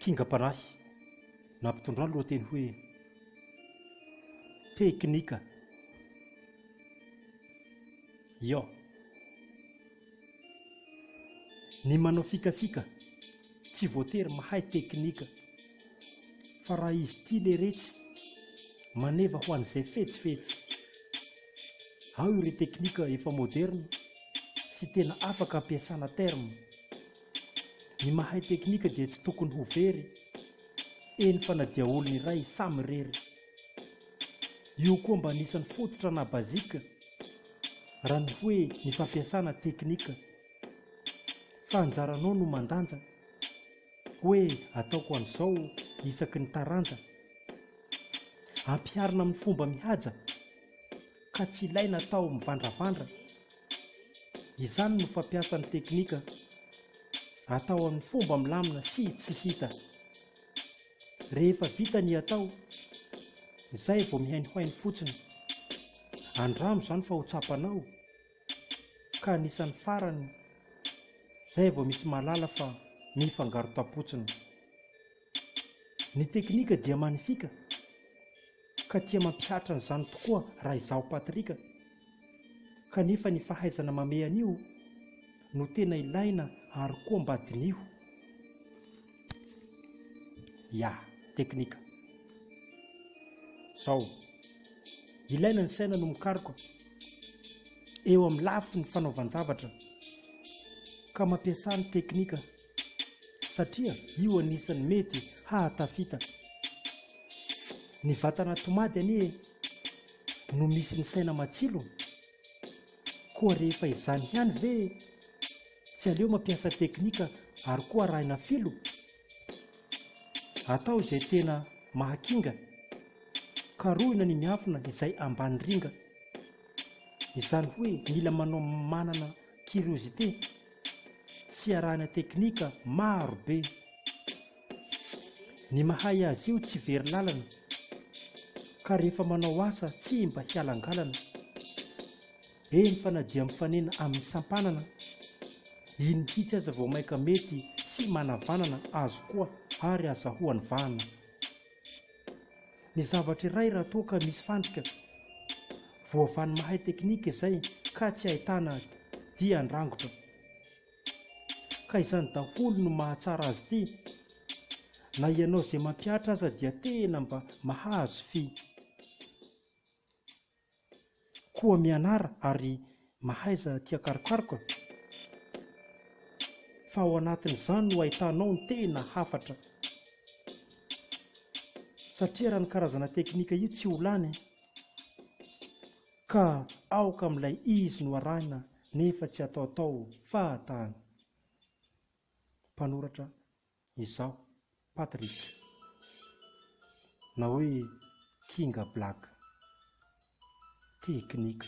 Kingam-panahy nampitondra ny lohateny hoe Teknika Iò. Ny manao fikafika tsy voatery mahay teknika fa raha izy tia leretsy maneva ho an'izay fetsifetsy. Ao ireo teknika efa moderina. sy tena afaka ampiasana terme. Ny mahay teknika dia tsy tokony ho very, eny fa na dia olona iray samy irery. Io koa mba anisan'ny fototra na basique raha ny hoe ny fampiasana teknika. Fa anjaranao no mandanja hoe ataoko an'izao isaky ny taranja. Ampiharina amin'ny fomba mihaja. ka tsy ilaina atao mivandravandra, izany no fampiasan'ny teknika atao amin'ny fomba milamina sy tsy hita. Rehefa vita ny atao, izay vao mihainohaino fotsiny. Andramo izany fa ho tsapanao ka anisan'ny farany izay vao misy mahalala fa mifangaro tapotsiny. Ny teknika dia manifika ka tia mampihatra an'izany tokoa raha izaho Patrick, kanefa ny fahaizana mamehy an'io no tena ilaina ary koa mba diniho. Ya, teknika. Zao. Ilaina ny saina no mikaroka eo amin'ny lafiny fanaovan-javatra ka mampiasa ny teknika. satria io anisan'ny mety hahatafita ny vatana tomady anie no misy ny saina matsilo koa rehefa izany ihany ve tsy aleo mampiasa teknika ary koa arahina filo atao izay tena mahakinga karohina ny miafina izay ambany ringa izany hoe mila manao manana curiosité fiarahana teknika maro be. Ny mahay azy io tsy very lalana ka rehefa manao asa tsy mba hialangalana. Eny fa na dia mifanena amin'ny sampanana, iny mihitsy aza vao maika mety sy manavanana azy koa ary azahoany vahana. ny zavatra iray raha toa ka misy fandrika voavanin'ny mahay teknika izay ka tsy ahitana dia andrangotra ka izany daholo no mahatsara azy ity na ianao izay mampihatra aza dia tena mba mahazo fy Koa mianara ary mahaiza tia karokaroka fa ao anatin'izany no ahitanao ny tena hafatra satria raha ny karazana teknika io tsy ho lany ka aoka amin'ilay izy no arahina nefa tsy ataotao fahatany. Mpanoratra Izaho, Patrick, na hoe Kinga Black, teknika.